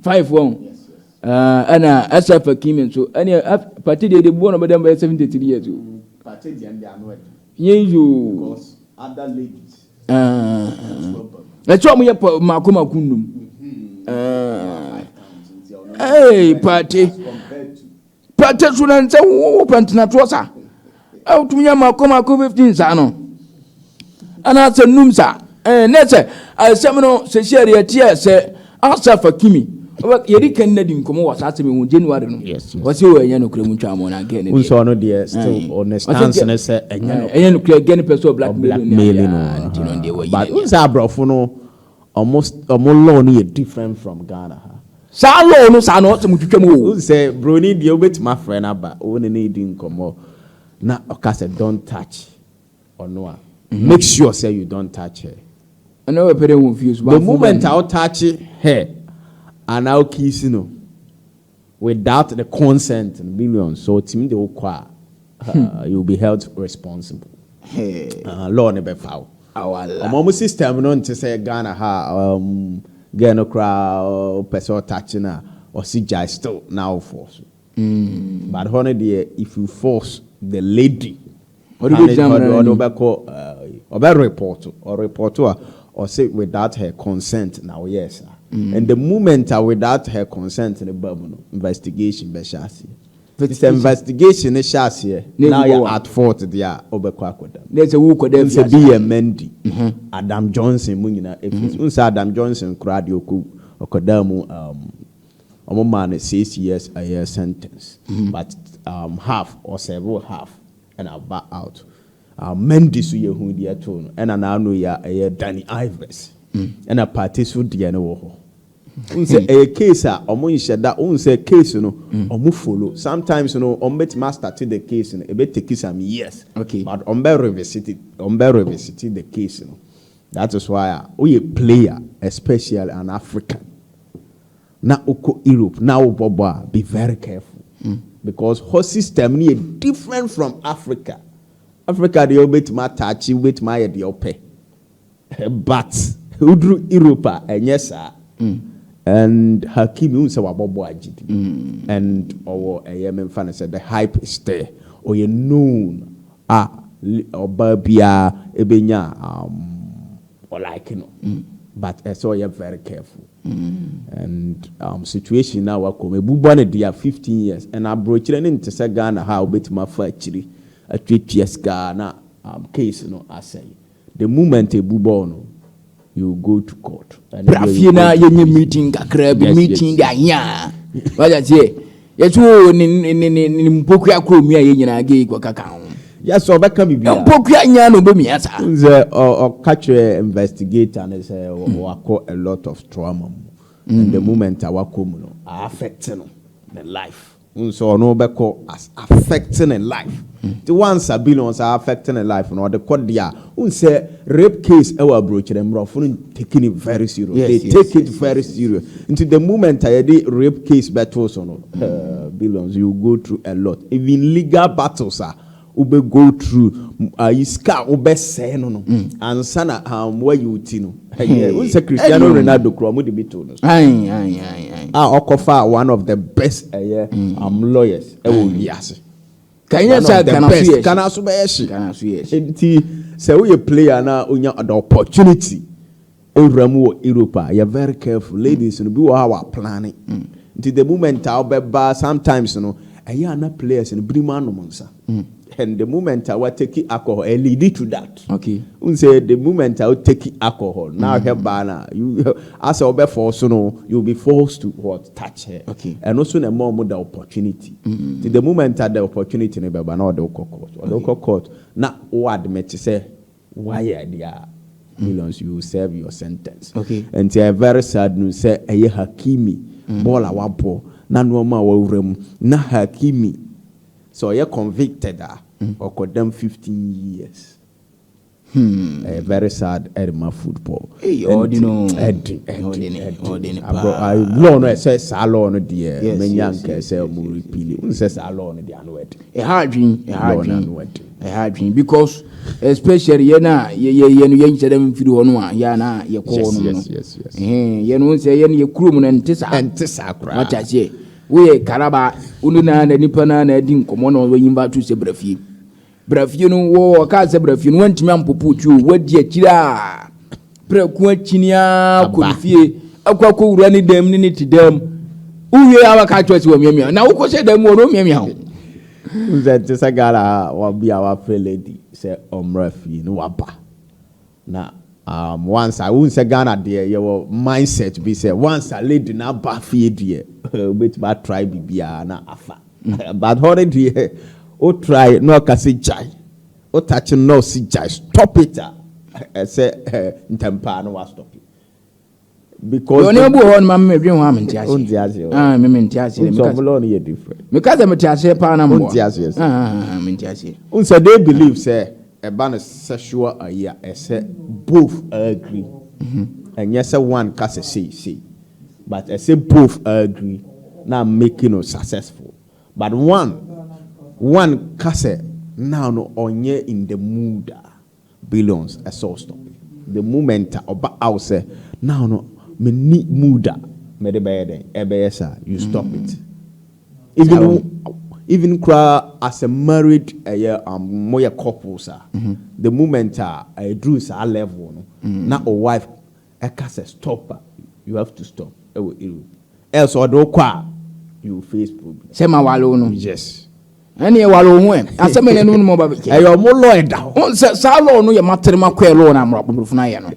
A: five wɔn. Aa ɛna asaf akimi nso ɛne af pate deɛ deɛ buo na ɔbɛda mu bɛyɛ seventy three years o. pate deɛ ɛnde ano ɛde. yeyoo. because other ladies. ɛkyɛ ɔmo yɛ pa mako mako nnum. ɛɛ pate pate so na nsɛ wo wo pɛntena toɔ sa. a wotumi nya mako mako fifteen saa no anaasɛ num saa ɛɛ ne sɛ asɛm no sɛsi ɛde ɛteɛ sɛ asɛfa kimi yɛde kɛn na di nkɔmɔ wɔ saa asɛm yi ho january no wɔsi wɔ ɛnyɛ nokura mu ntwa mu na gɛn ne deɛ nsɔɔ no deɛ still on the stance ne sɛ ɛnyɛ nokura gɛn pɛ sɛ ɔblack mailing no nti no deɛ wɔyi but nsɛ aborɔfo no Ɔmo law no yɛ different from Ghana ha. Saa law no saa no ɔsɛm twitwa mu o. Wohu sɛ broni deɛ wobɛtumi afrɛ no aba wo ne no redi nkɔmmɔ na ɔka sɛ don't touch ɔno a make sure sɛ you don't touch her. Ɛna wɔpɛ dɛ wɔn fie so. The moment a wo touch her anaa wo kiss no Without the consent no billions sɛ ɔtumi de wo kɔ a you will be held responsible. Hey. Law no bɛfa wo. Awala. Ɔmo ɔmo system no nte sɛ Ghana ha um, girl no koraa ɔpɛ sɛ ɔtakye no a ɔsi gyae still na awofoɔ so. Mm. But hɔ no deɛ if you force the lady Ɔde bɛ gyina amena no anim. Ɔbɛ repɔto, ɔrepɔto a ɔse without her consent na ɔyɛɛ saa. And the moment a without her consent no ba mu no, investigation bɛ hyɛ aseɛ. Nti sɛ investigation no hyɛ aseɛ na ɔyɛ at fault deɛ a, ɔbɛkɔ akɔda mu. Nɛsɛ wo kɔda afiase. Wonsɛ bi yɛ Mendy, Adam Johnson, mo nyinaa ɛfiri. Wonsɛ Adam Johnson koraa deɛ ɔkɔdaa mu um. Ɔmo maa no six years ɛyɛ sentence but um half ɔ serve half ɛna ɔba out um Mendy so yɛ hu deɛ ɛtoo no ɛna n'ano yi a ɛyɛ Dani Alves ɛna Partey so deɛ no wɔ hɔ wohu sɛ ɛyɛ case a ɔmo nhyɛ da wohu sɛ case no ɔmo follow sometimes no ɔmo bɛtumi a start the case no ɛbɛ take some years okay but ɔmo bɛ revisit ɔmo bɛ revisit the case no that is why a woyɛ player especially an African. na wokɔ europe na wobɔbɔ a be very careful hmm. because hɔ system no yɛ different from africa africa deɛ wobɛtumi ataakye wobɛtumi ayɛ deɛ wopɛ but woduru europe a ɛnyɛ saa hmm. and hakim wohu sɛ wabɔbɔ agyidi hmm. and ɔwɔ ɛyɛ memfa no sɛ the hype is there ɔyɛ known A ɔbaa biara bɛnya a ɔlike no but ɛsɛ ɔyɛ very careful and situation no a wakɔ mu ɛbu bɔ no dea fifteen years and aborɔkyire no nte sɛ Ghana ha a wobɛtumi afa akyiri atwatua sika na case no asɛe. The moment ebu bɔɔl no, you will go to court. Bra fie na yɛnyɛ meeting kakra bi, meeting de ahia a. Wagye aseɛ. Yɛsi o ne ne ne ne ne mpokua koro mia yɛ nyinaa gay kɔ kaka ho. Yes, ɔbɛka biribi a. Mpokua nyinaa na ɔbɛmia saa. N sɛ ɔka kyerɛ investigator no sɛ wakɔ a lot of trauma mu. And the moment a wakɔ mu no, a affect no, ne life. Wohu sɛ ɔno bɛkɔ as affect ne life nti once abi no ɔsa affect ne life no ɔde kɔ deɛ a wohu sɛ rape case ɛwɔ aburokyerɛ mmorɔfo no take it very serious yes, they yes, take yes, it very yes, serious yes, yes. nti the moment a yɛde rape case bɛto so no uh, billions you go through a lot even legal battles a Wo bɛ go through ayi sika a wo bɛ sɛɛ no no ansa na um wa yi wo ti no ɛyɛ wo sɛ Cristiano Ronaldo kura ɔmo de bi too no so a ɔkɔ fa one of the best ɛyɛ um lawyers ɛwɔ wiase kanyɛ sɛ kanaso kanaso bɛyɛ hye nti sɛ wo yɛ player na onya the opportunity. Owura
B: mu wɔ Europe a yɛ very careful ladies no bi wɔ hɔ a wa plane nti the moment a wobɛba sometimes no ɛyɛ a na players no binom anom nsa and the moment a wa take alcohol ɛ lead to that okay n sɛ the
A: moment
B: a wo take alcohol na ahwɛ baa na you asɛ wobɛ force no you will be forced to what touch her okay ɛno so na ɛma
A: ɔmo da
B: opportunity nti the moment a the opportunity no bɛba na ɔde wokɔ court ɔde wokɔ court na wo admit sɛ Wayɛ ade a millions you will serve your sentence okay nti ɛyɛ very
A: sad
B: news sɛ ɛyɛ Hakimi mm. bɔɔl a wabɔ na nneɛma a wawura mu na Hakimi sɛ ɔyɛ convicted a mm. ɔkɔdam fifteen years hmm. ɛyɛ very sad ɛrema football
A: ɛdi
B: law no ɛsɛ saa law no deɛ mɛnya nkɛ sɛ ɔmo repili n sɛ saa law no deɛ ano ɛdi. Ɛha adwene, ɛha
A: adwene, ɛha adwene because especially yɛn a yɛyɛ yɛn no yɛn nkyɛn dɛm mfiri hɔ no a yɛn a na yɛkɔ hɔ nom no ɛhɛn
B: yɛn no nsɛ
A: yɛn yɛ kurom na nte saa nte saa koraa wata aseɛ woyɛ karaba wone na na nipa na na adi nkɔmɔ na wɔyɛ nyimba to sɛ brafie brafie no wɔ ɔkaa sɛ brafie no wantumi ampopo tuo wadi akyire a Prɛko akyini ara kɔ ne fie ɛkɔ akɔ wura ne dan mu ne ne te dan mu. Wowie a waka akyerɛ sɛ wɔmiamia na wokɔ hyɛ dan mu ɔno miamia ho. Wosɛ
B: te sɛ Ghana a wabi a wafrɛ lady sɛ ɔmmra fie ne waba. Na um, once a wohu sɛ Ghana deɛ yɛwɔ mindset bi sɛ once a lady na aba fie deɛ wobɛtumi atry biribiara na afa. But hɔ no deɛ wotry na ɔka sɛ gyae. Wo touch no na ɔse gyae stop it a ɛsɛ ntɛmpaa no wa stop it because.
A: Yɛ ɔne abu
B: wɔ hɔ no ma
A: me dwen ho a me nte aseɛ. Nte aseɛ hɔ. Ah me
B: me nte aseɛ.
A: Nti ɔmo lɔɔ no yɛ different.
B: Me ka sɛ me te aseɛ paa
A: na mboa. Nte aseɛ sɛ. Ah ah
B: ah, ah me nte aseɛ.
A: Nsɛ they believe
B: sɛ ɛba no sexual ayi a ɛsɛ both agree. Ɛnyɛ sɛ one ka sɛ sei sei but ɛsɛ both agree na make no successful. But Juan Juan ka sɛ now no ɔnyɛ in the mood a billions ɛsɛ ɔstop the moment a ɔba out sɛ now no menni mood a mede bɛyɛ dɛn ɛbɛyɛ saa you stop it even even koraa as a married ɛyɛ um, moyɛ couples a the moment a ɛduru saa level no na o wife ɛka sɛ stop a you have to stop ɛwɔ Europe else ɔde wo kɔ a you will face problem. Sɛ ma wale wo no.
A: Yes.
B: Ɛne ɛwale wo
A: ho ɛ asɛm ɛne ɛno no mɔba bɛkyɛ. Ɛyɛ ɔmo lɔ ɛda
B: hɔ. Wɔn sɛ saa lɔ no
A: yɛ materema kɔɛ lɔ na amorɔ apoporofo no ayɛ no.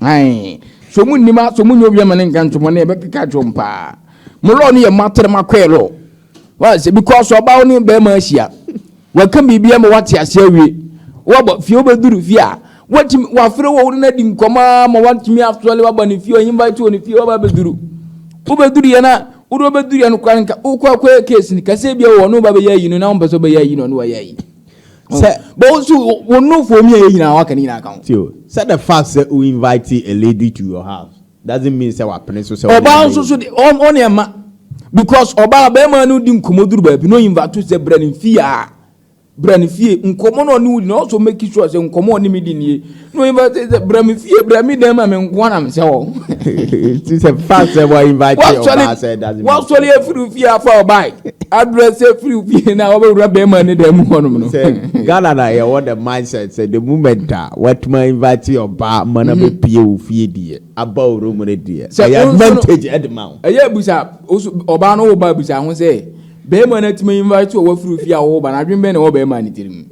A: Ayi so mu nnima so mu nyɛ obi ama ne nka ntomɔ ne ɛbɛkeka kyerɛ ɔmo paa. Mo lɔ no yɛ materema kɔɛ lɔ. Why say because ọba wo ne bɛrima ahyia. Waka biribi ama wate ase awie. Wabɔ fie wobɛduru fie a watumi wafere wɔ wo ne no adi nkɔmɔ a ma watumi asɔle waba ne fie ɔyɛ invite wɔ ne fie waba bɛduru. Wobɛduru yɛ na wode wobɛduru yɛ no kora nka wokɔ akɔyɛ case no kɛsɛ bia wɔ ne wobɛ bɛyɛ ayi no na wompɛ sɛ wobɛyɛ ayi no ne wɔyɛ ayi. Sɛ bɔ wo so wo nofo mi a yɛ nyinaa waka ne nyinaa ka ho. Sɛ the fact
B: sɛ wo invite a lady to your house. Doesn't mean sɛ wapene so sɛ ɔne Ɔbaa nso so de ɔn ɔne ɛma
A: because ɔbaa bɛrima no di nkɔmɔ duru baabi na ɔyinva to sɛ brɛ ne fie a brɛ ne fie nkɔmɔ na ɔne wudi na ɔsɔ make sure sɛ nkɔmɔ ɔne me di nie na ɔyinva to sɛ brɛ me fie brɛ me dan ma me nkoa na me sɛ wɔ Ti sɛ
B: fa sɛ wa invite ɔbaa sɛ doesn't mean wasɔre sɛ- afiri fie
A: afa ɔbaa address afiri fie na ɔbɛwura bɛrima ne dan mu hɔnom no sɛ Ghana na
B: yɛwɔ the mindset sɛ the moment a watumi invite ɔbaa ma na bɛpie wo fie bi yɛ. Abaworo mu no deɛ, ɛyɛ advantage de ma wo. Ɛyɛ bisa
A: ɔbaa no woba bisa ho sɛ, barima no atumi invite wo a wafiri fie a woba no, adwene bɛn na ɛwɔ barima no tirim?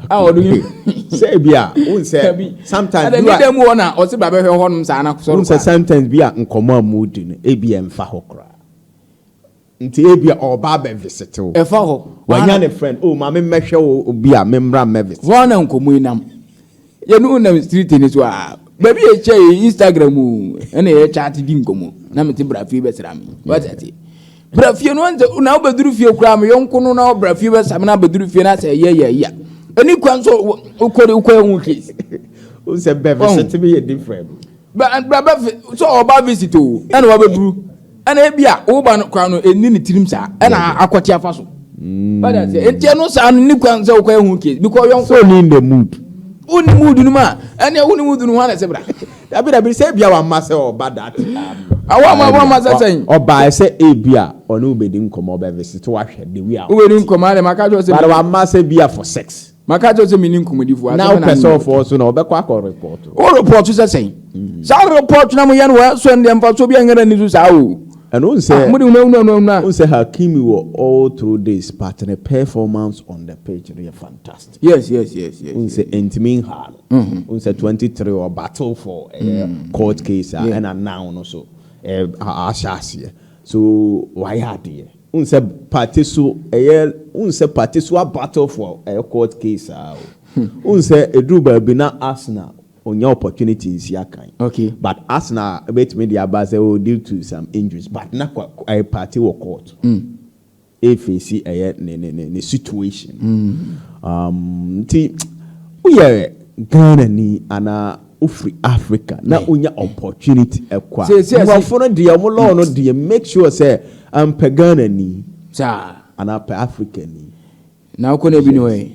A: A ɔde
B: sɛ bi a, wo nsɛ sometimes bi a. Ɛdɛ mu hɔ na
A: ɔse ba bɛhwɛ hɔ nom saa na sɔrɔ. Wo nsɛ sometimes bi a nkɔmɔ
B: a mu di no ebi ɛmfa hɔ koraa. Nti ebia ɔreba abɛvisite wo. Ɛfa hɔ. Wanya ne
A: friend, oh,
B: ma memmɛhwɛ wo bi a, memmra mmɛvisite wo. Hɔ ara na nkɔmmɔ yi nam.
A: Yɛne wo nam street no so aa, baabi a yɛhyia yɛ Instagram o, ɛnna yɛchaate di nkɔmmɔ, na mete bra fie bɛsra me. Wate aseɛ? Bra fie no, ɔnsɛ, na wobɛduru fie koraa, me yɔnko no na ɔbra fie bɛsa me na abɛduru fie no asɛ ɛyɛ yɛ yɛ. Ɛni kwan so wokɔ de wokɔ yɛ ho case. Wosɛ
B: bɛvisite me yɛ different. Bra bɛfi,
A: sɛ ɔba visit o, ɛnna wabɛduru. ɛna ebi a wo ba no kora no ɛnni ne tirim saa ɛna akɔte afa so ɔda mm. sɛ nti ɛno saa no ne kwan sɛ wokɔ ɛho case because yɔnko so ne in the mood
B: wo ne mood no
A: mu a ɛne wo ne mood no ho ana sɛ bra dabi dabi sɛ ebia
B: wamma sɛ ɔba dat awa ma wa
A: ma sɛ sɛn ɔbaa sɛ ebi
B: a ɔne wobɛdi nkɔmmɔ ɔbɛvesete wahwɛ de wi a wobɛdi nkɔmmɔ a de maka kyerɛ
A: sɛ bade wamma sɛ bia
B: for sex Maka kyerɛ sɛ mene
A: nkɔmmɔdifo.
B: Na wopɛ
A: sɛ
B: ɔfɔɔ so na wɔbɛkɔ akɔ repɔɔto.
A: Wo
B: repɔɔto
A: sɛ sɛn?
B: Mm.
A: Saa repɔɔto na moyɛ no wɔ ɛsɔ no deɛ mfasoɔ bi ɛnyɛ ni so saa o. And won sɛ ah, mode
B: hunu ahunu ahunu ahunu. Won sɛ
A: Hakimi wɔ
B: all through this but ne performance on the pitch no yɛ fantastic. Yes yes yes yes.
A: Won sɛ
B: ɛntumi nhaa no. Won mm-hmm. sɛ 23 wɔ battle for ɛyɛ mm. court case a ɛna now no so ahyɛ aseɛ so wayɛ adeɛ. Wohu sɛ party so ɛyɛ wohu sɛ party so abattle for ɛyɛ court case saa o. Wohu sɛ ɛduru baabi na Arsenal ɔnya opportunity nsi akan. Okay. But
A: Arsenal
B: ɛbɛtumi de aba sɛ oh due to some injuries but na kwa ɛyɛ party wɔ court. Mm. Ɛfeesi ɛyɛ ne ne ne ne situation. Mm. Um, nti woyɛ Ghana ni anaa Ofiri Africa na onya opportunity ɛkɔ a, mmorɔfo no deɛ ɔmo law no deɛ make sure sɛ ampɛ Ghana ni. Saa. Anaa pɛ Africa ni. Na okɔ na ebi
A: ni hɔ yɛ.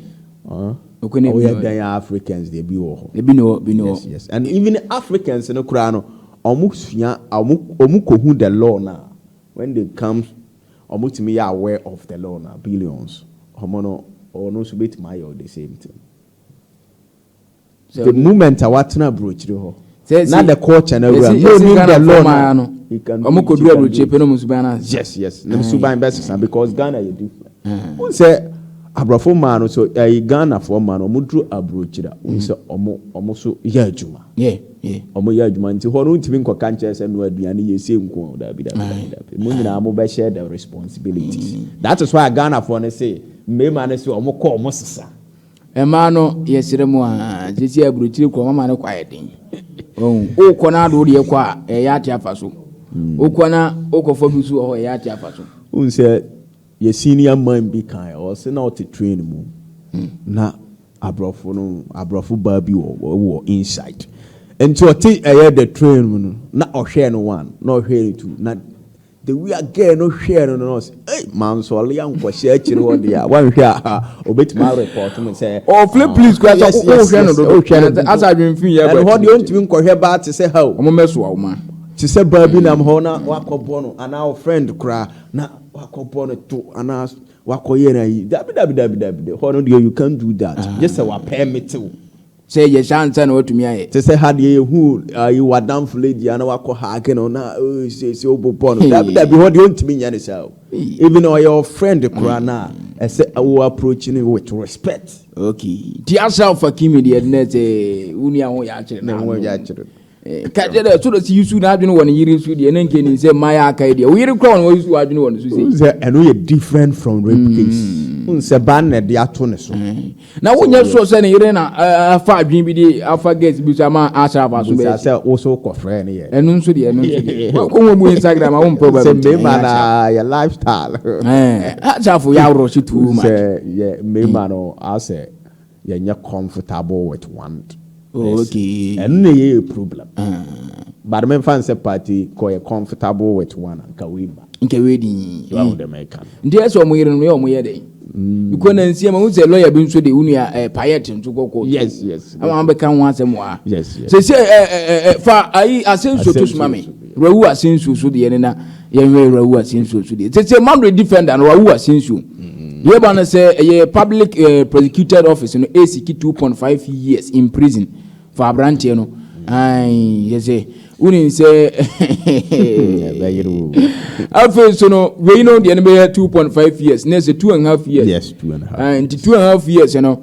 A: Okɔ na ebi
B: ni hɔ. Oyɛ dan ya Africans deɛ ebi wɔ hɔ. Ebi ni hɔ, ebi ni hɔ. Yes yes and even Africans no koraa no ɔmo sua ɔmo ɔmo kɔ hu the law na when they come ɔmo tumi yɛ aware of the law na billions ɔmo no ɔno nso betumi ayɛ the same thing. The moment a watena aburokyire hɔ, na the culture na awura. No nim the law na. Wɔn kɔ duru aburokyire pɛ na wɔn suban na. Yes yes, na suban bɛ sisan because Ghana yɛ different. Wɔn sɛ aborɔfo mmaa no so ɛyi Ghana fo mmaa no wɔn duru aburokyire wɔn sɛ wɔn wɔn so yɛ adwuma. Yeah yeah. Wɔn yɛ adwuma nti hɔ no ntumi nkɔ kankyɛ sɛ no aduane yɛ se nko a dabi dabi dabi dabi. Mo nyinaa mo bɛ share the responsibilities. That is why Ghana fo no say mmarima no sɛ wɔn kɔ wɔn sisa. Mmaa no
A: yɛsrɛ mo aa sɛsi aburokyire kɔ mama no kɔ ayɛ den ɔhu wokɔ no ado wodeɛ kɔ a ɛyɛ ate afa so mm. wokɔ na wokɔfa bi so wɔ hɔ ɛyɛ ate afa so wohu sɛ
B: yɛ senior man bi kan ɔse na ɔte train mu hmm. na aborɔfo no aborɔfo baa bi wɔ wɔ inside nti ɔte ɛyɛ the train mu no na ɔhwɛɛ no one na ɔhwɛɛ no two na The way a girl no hwɛɛ no no ɔsɛ ei mansɔle ankɔhyɛ akyiri hɔ deɛ a wanhwɛ a ha obetumi arepɔt me sɛ Oh, Flip, ah, please, kura sɛ
A: yes, yes, wohwɛ no yes, dodo. wohwɛ no Ɛsɛ- dodo. Asa adwene fi yɛ ɛno hɔ deɛ ɔntumi nkɔhwɛ
B: baa te sɛ ha o Ɔmo mɛsoa wo ma.
A: te sɛ baa bi nam
B: hɔ na wakɔbɔ no anaa wo friend koraa na wakɔbɔ no to anaa wakɔyɛ no ayi dabi dabi dabi dabi de hɔ no deɛ you can't do that gye sɛ wapɛɛmete wo Sɛ ɛyɛ
A: saa ansa na watumi ayɛ. Te sɛ ha deɛ yɛhu
B: ayi w'adamfo lady a na wakɔ hake no na ee siesie wobobɔ no. Dabi dabi hɔ deɛ ɔntumi nyɛ ne saa o. Even ɔyɛ wo friend koraa no a ɛsɛ wo approach no with respect. Okay nti
A: Asraf Fakimi deɛ nnɛ sɛ wo nua ho yɛ akyere no a no.
B: ka kyerɛ dɛ
A: soro si yusu n'adwene wɔ ne yere so deɛ ne nka ne nsɛm ma yɛ akae deɛ wo yere kora wɔn yusu w'adwene wɔ ne so sei sɛ ɛno yɛ different
B: from rape hmm. case n sɛ ba na ɛde ato ne so hmm. na wonyɛ
A: sure sɛ ne yere na afa adwene bi de afa gas bi so ama asra afa so bɛyɛ sɛ wo so kɔfrɛ
B: ne yɛ ɛno nso deɛ ɛno nso
A: deɛ wɔkɔwɔ mu instagram a wo mpɛ ba sɛ mmema na yɛ
B: lifestyle asafo
A: yɛ aworɔ hye too much sɛ yɛ mmema
B: no asɛ Yɛnyɛ comfortable with one person. Oh okay.
A: Ɛno na ɛyɛ yɛ
B: problem. But memfa no sɛ party kɔ yɛ comfortable with one a, nka wei mma. Nka wei di. So ahu
A: dɛ meka no.
B: Nti ɛsɛ wɔn yere no yɛ
A: wɔn yɛ dɛ. Because na nsia ma wosɛ lawyer bi nso de wo nua eh, payet nso kɔ court. Yes yes. Ama wɔn
B: bɛka ho
A: asɛm wɔ ha. Yes yes. Sɛ sɛ eh,
B: eh, eh, eh,
A: fa ayi asɛnsuo to soma me. Rawu asɛnsuo so deɛ ne na. yɛhwɛ yɛwura awu asensuo nso deɛ sese madrid defender no wawu asensuo mm-hmm. yɛba no sɛ ɛyɛ public uh, prosecuted office no ɛsiki 2.5 years in prison for aberanteɛ no yɛ sɛ wonim sɛ afei so no wei no deɛ no bɛyɛ 2.5 years na ɛsɛ 2 and half years yes, two and a half. Uh, nti
B: 2 and half
A: years no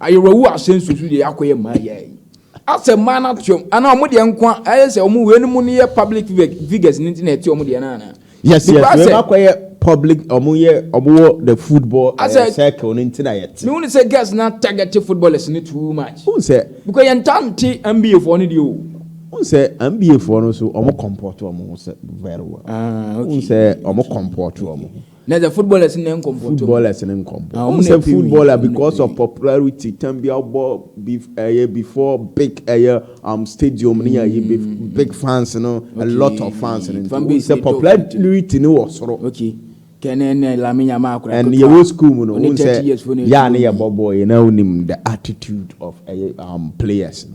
A: Ayerɛwu asɛm nsusu deɛ yɛakɔyɛ mmaa yi ara yi. Asɛ mmaa no ateɔm anaa wɔn deɛ nko ara ayɛ sɛ wɔn wei no mu no yɛ public figures no nti na ɛte wɔn deɛ no anaa? Yes yes wei no akɔyɛ
B: public wɔn yɛ wɔn wɔ the football uh, circle no nti na yɛte. Mehu ne sɛ girls na
A: target footballers no too
B: much.
A: N sɛ. Because yɛn ta nte NBA
B: foɔ
A: no deɛ o.
B: N sɛ NBA foɔ no so wɔn comport wɔn ho sɛ very well. Ah okay. N sɛ
A: wɔn
B: comport wɔn ho. Na the footballers
A: ne nkɔmpɔ to. Footballers ne nkɔmpɔ.
B: Wɔn sɛ footballer because of popularity tam bi abɔ ɛyɛ before big ɛyɛ um stadium ne yɛ yɛ big fans no a lot of fans no nti wɔn sɛ popularity ne wɔ soro. Okay. Kɛnɛ
A: ne Lamine Yamal akora. And yɛ wɔ school
B: mu no wɔn sɛ yɛ a ne yɛ bɔ bɔɔl yɛ na wɔn nim the attitude of ɛyɛ um players no.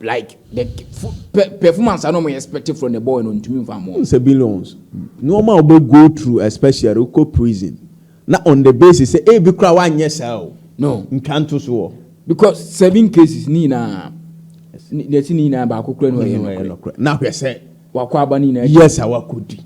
A: Like the performance I know my expected from the boy no ntumi nfa mmoa. N sɛ billions
B: nneɛma a wobɛ go through especially wokɔ prison na on the basis sɛ ebi koraa wanyɛ saa o. No. Ntwa
A: nto so wɔ.
B: Because seven
A: cases ne nyinaa deɛ ɛsi ne nyinaa baako koraa ne ɔyɛ nokorɛ. Na
B: hwɛ sɛ. Wakɔ aba ne nyinaa. Yes
A: a wakɔdi.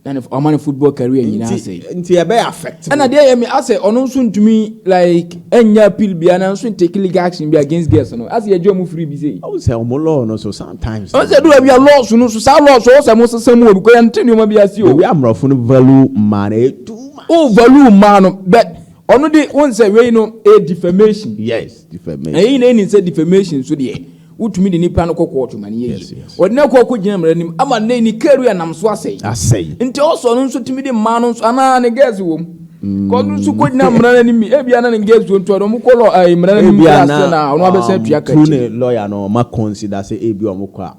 B: na ne ɔma
A: ne football career nyinaa nti sɛe nti ɛbɛ affect
B: ɛna deɛ yɛ me asɛ
A: ɔno nso ntumi like ɛnya appeal bia na nso take legal action bi against girls no asɛ yɛgye ɔmo firi bi sei ɔmo sɛ ɔmo law no
B: so sometimes ɔno sɛ do baabi a laws
A: no so saa laws ɔwɔ sɛ mo sesa mu o because yɛnte nneɛma bi ase o ewi amorɔfo no value
B: mmaa no ɛyɛ too much o value mmaa no
A: but ɔno de wɔn sɛ wei no ɛyɛ defamation yes defamation
B: ɛyɛ nyinaa nim sɛ defamation
A: so deɛ Wotumi de nipa no kɔ kɔɔto ma ne yɛ yes, yes. Wɔde no akɔ akɔgyina mmara nim ama nnɛ ni karu a nam so asɛe. Asɛe. Nti ɔsɔ no nso tumi de mmaa no nso anaa ne gɛs wɔ mu. Mm. Kɔ no nso kɔgyina mmara no nim. Ebi ana ne gɛs wɔ ntoa no ɔmo kɔ lɔ ɛɛ mmara no nim bi ase na ɔno abɛsɛn um, tua kɛkyɛ. Tune lɔya no ɔma
B: consider sɛ ebi ɔmo kɔ a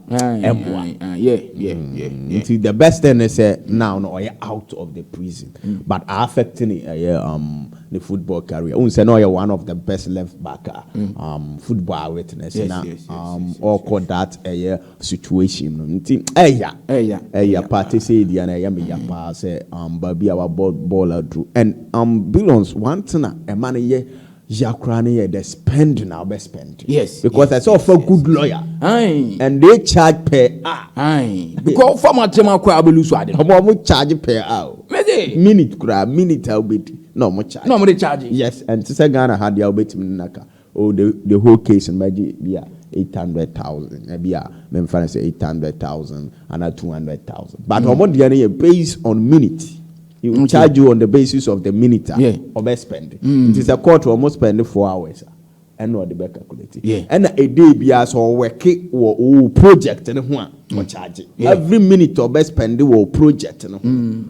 B: ɛboa. Yɛ yɛ yɛ.
A: Nti the
B: best thing ne sɛ now no ɔyɛ out of the prison mm. but affecting ɛyɛ um. ne football career. Wohu sɛ na ɔyɛ one of the best left back a um, football a witness Yes, na yes, yes, um, yes, yes, ɔkɔ yes. that ɛyɛ situation no nti ɛya Ɛya, ɛya ɛya paa te sɛ ɛdia no ɛyɛ me ya paa sɛ um, baabi a wabɔ bɔɔl aduru and um, billions one thing a ɛma no yɛ ya koraa no yɛ the spend na wobɛ spend Yes, because yes, ɛsɛ yes, ɔfa yes. good lawyer Ae, and they charge per hour ae. Because fama tema
A: koraa bɛlu so ade no. ɔmo ɔmo charge per
B: hour o. Mede. Minute koraa minute a wobɛdi na ɔmo charge. Na ɔmo de charge. Yes
A: ɛnte sɛ Ghana
B: ha deɛ a wobɛtumi ne no aka oh the the whole case no mɛgye bi a eight hundred thousand ɛbi a memfa no sɛ eight hundred thousand anaa two hundred thousand but mm. ɔmo deɛ no yɛ based on minute. He will charge you on the basis of the minute a ɔbɛ spend. Mm. Nti sɛ court ɔmo spend four hours a. ɛna ɔde bɛ calculate ɛna a day biara sɛ ɔwɛke wɔ ɔwɔ project no ho a mm. ɔcharge every minute ɔbɛ spend wɔ project no ho mm.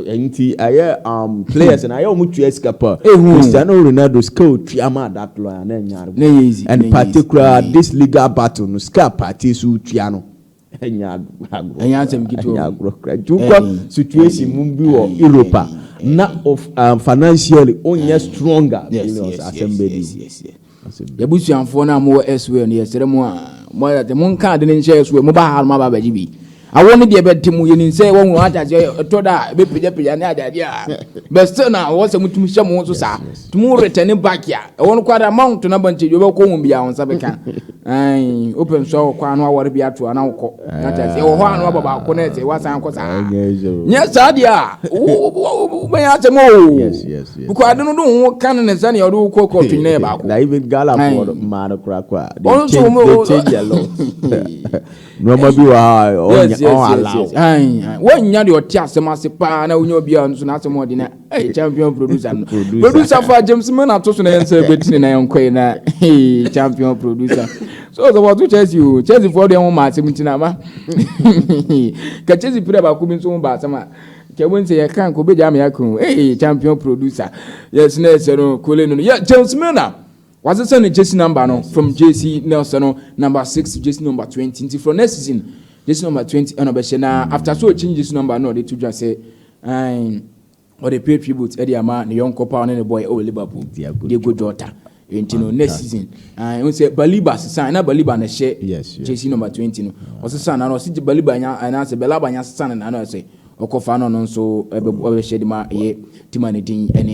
B: nti ɛyɛ um, players na ayɛ wɔn tua sika pa Cristiano Ronaldo sika otua ma that lawyer na ɛnyɛ arebo and particular this legal battle no sika party so tua no. ɛnyɛ agorɔ ɛnyɛ asɛm ketewa ɛnyɛ agorɔ kura nti wokɔ situation mu bi wɔ europe a na of um, financially onyɛ stronger billions asɛm bɛdi
A: yɛbusuafoɔ no a mowɔ ɛsoɛ no yɛsrɛ mu a moayɛte monka ade no nhyɛ ɛsoɛ moba ha no maba abɛgye bi awo no deɛ bɛte mu yɛnim sɛ wɔhu ataseɛ ɛtɔ da a bɛpagyapagya ne adadeɛ a bɛsɛ na wɔwɔ sɛ motumi hyɛ mo ho so saa tumi retɛne back a ɛwɔ no kwada ma wotona ba nkyɛ dwa bɛkɔ ho biaa wo nsa bɛka Ayi, wopɛ nso wɔ kwan no awɔre bi ato a na wokɔ. Ate aseɛ, wɔ hɔ a na wabɔ baako na ɛsɛ wasan kɔ saa. Nyɛ saa deɛ a, wobɛyɛ asɛm o. Bukɔ ade no de wo ho ka no ne sɛdeɛ ɔde wo kɔ kɔtwe na yɛ baako. Na even Ghanafoɔ no,
B: mmaa no koraa kɔ a, they change, they change a lot. Nneɛma bi wɔ ha a, ɔn allow.
A: Wɔnnya deɛ ɔte asɛm ase paa na wonya obiara nso n'asɛm ɔde na Hey, champion producer no. producer. producer for James Man ato so na yɛn sɛ bɛtini na yɛn kɔɛ na hey, champion producer. So sɛ wɔto Chelsea o, Chelsea foɔ deɛ ho ma asɛm nti na ama. Ka Chelsea pira baako bi nso ho ba asɛm a. Kɛ wɔn sɛ yɛ kan kɔ bɛgya ama yɛ kan Hey, champion producer. Yɛ sinɛ sɛ no kole no. Yɛ James Man a. Wɔasɛ sɛ ne Chelsea number no from JC Nelson no number six JC number twenty nti from next season JC number twenty ɛna ɔbɛhyɛ na after so ɔkyi JC number no ɔde to dwa sɛ Aane, ɔde pay tribute de ama ne yɔnkɔ paa ɔne no bɔɔɛ wɔ Liverpool, Diego Jota. Enti no, next season, aane, wohu sɛ Baliba sesaa, na Baliba na ɛhyɛ jersey number 20 no, ɔsesaa n'ano, ɔse Baliba nya, anaasɛ Belaba nya sesaa no n'ano, ɛsɛ ɔkɔfa no ɔno nso bɛbɔ, ɔbɛhyɛ de ma ɛyɛ team a ne din ne.